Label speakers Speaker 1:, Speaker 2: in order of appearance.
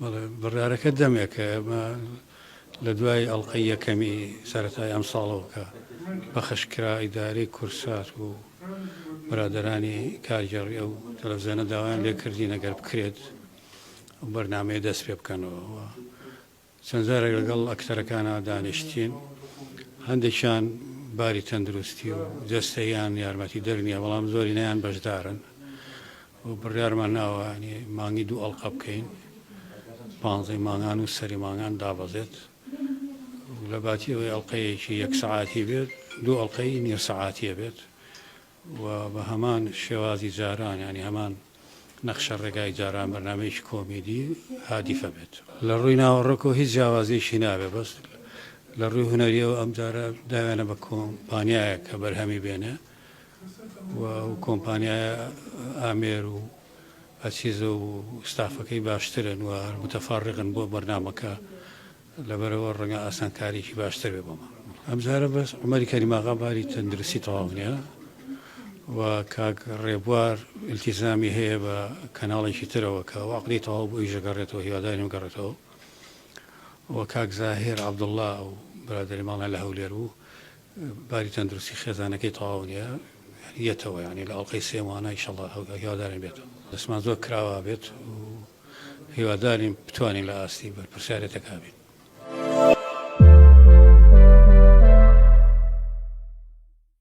Speaker 1: بەڵێ بڕیارەکە دەمێکە ئێمە لە دوای ئەڵقەی یەکەمی سەرەتای ئەمساڵەوە کە پەخش کرا ئیدارەی کورسات و برادرانی کارگێڕی ئەو تەلەڤزیۆنە داوایان لێ کردین ئەگەر بکرێت ئەو بەرنمەیە دەست پێ بکەنەوە چەند جارێک لەگەڵ ئەکتەرەکانە دانیشتین هەندێکیان باری تەندروستی و جەستەیان یارمەتی دەرنیە بەڵام زۆرینەیان بەشدارن و بڕیارمان ناوە یانی مانگی دوو ئەڵقە بکەین پانزەی مانگان و سەری مانگان دابەزێت و لە باتی ئەوەی ئەڵلقەیەکی یەک سعاتی بێت دوو ئەڵلقەی نیو سعاتیە بێت و بە هەمان شێوازی جاران ینی هەمان نەخشە ڕێگای جاران بەرنمەیەکی کۆمیدی هادیفە بێت لە ڕووی ناوەڕۆکەوە هیچ جیاوازیشی نابێت بەس لە ڕووی هونەریەوە ئەم جارە داوێنە بە کۆمپانیایە کە بەرهەمی بێنێ و ئەو کۆمپانیایە ئامێر و ئەچیزە و ستافەکەی باشترن و متفەڕقن بۆ بەرنامەکە لەبەرئەوە ڕەنگە ئاسانکاریەکی باشتر بێ بۆمان ئەمجارە بەس عومەری کەریماغا باری تەندروستی تەواو نیە و کاک ڕێبوار التیزامی هەیە بە کەناڵێکی ترەوە کە ئەو عەقدی تەواو بۆ ئیش دەگەڕێتەوە هیوادارین بگەڕێتەوە و کاک زاهیر عەبدوڵا و برادەری ماڵیان لە هەولێر بوو باری تەندروستی خێزانەکەی تەواو نیە یەتەوە یانی لە ئەڵقەی سێ مانە ئیشەڵا هیوادارین بێتەوە دەسمان زۆر کراوا بێت و هیوادارین بتوانین لە ئاستی بەرپرسیارێتەکە بین.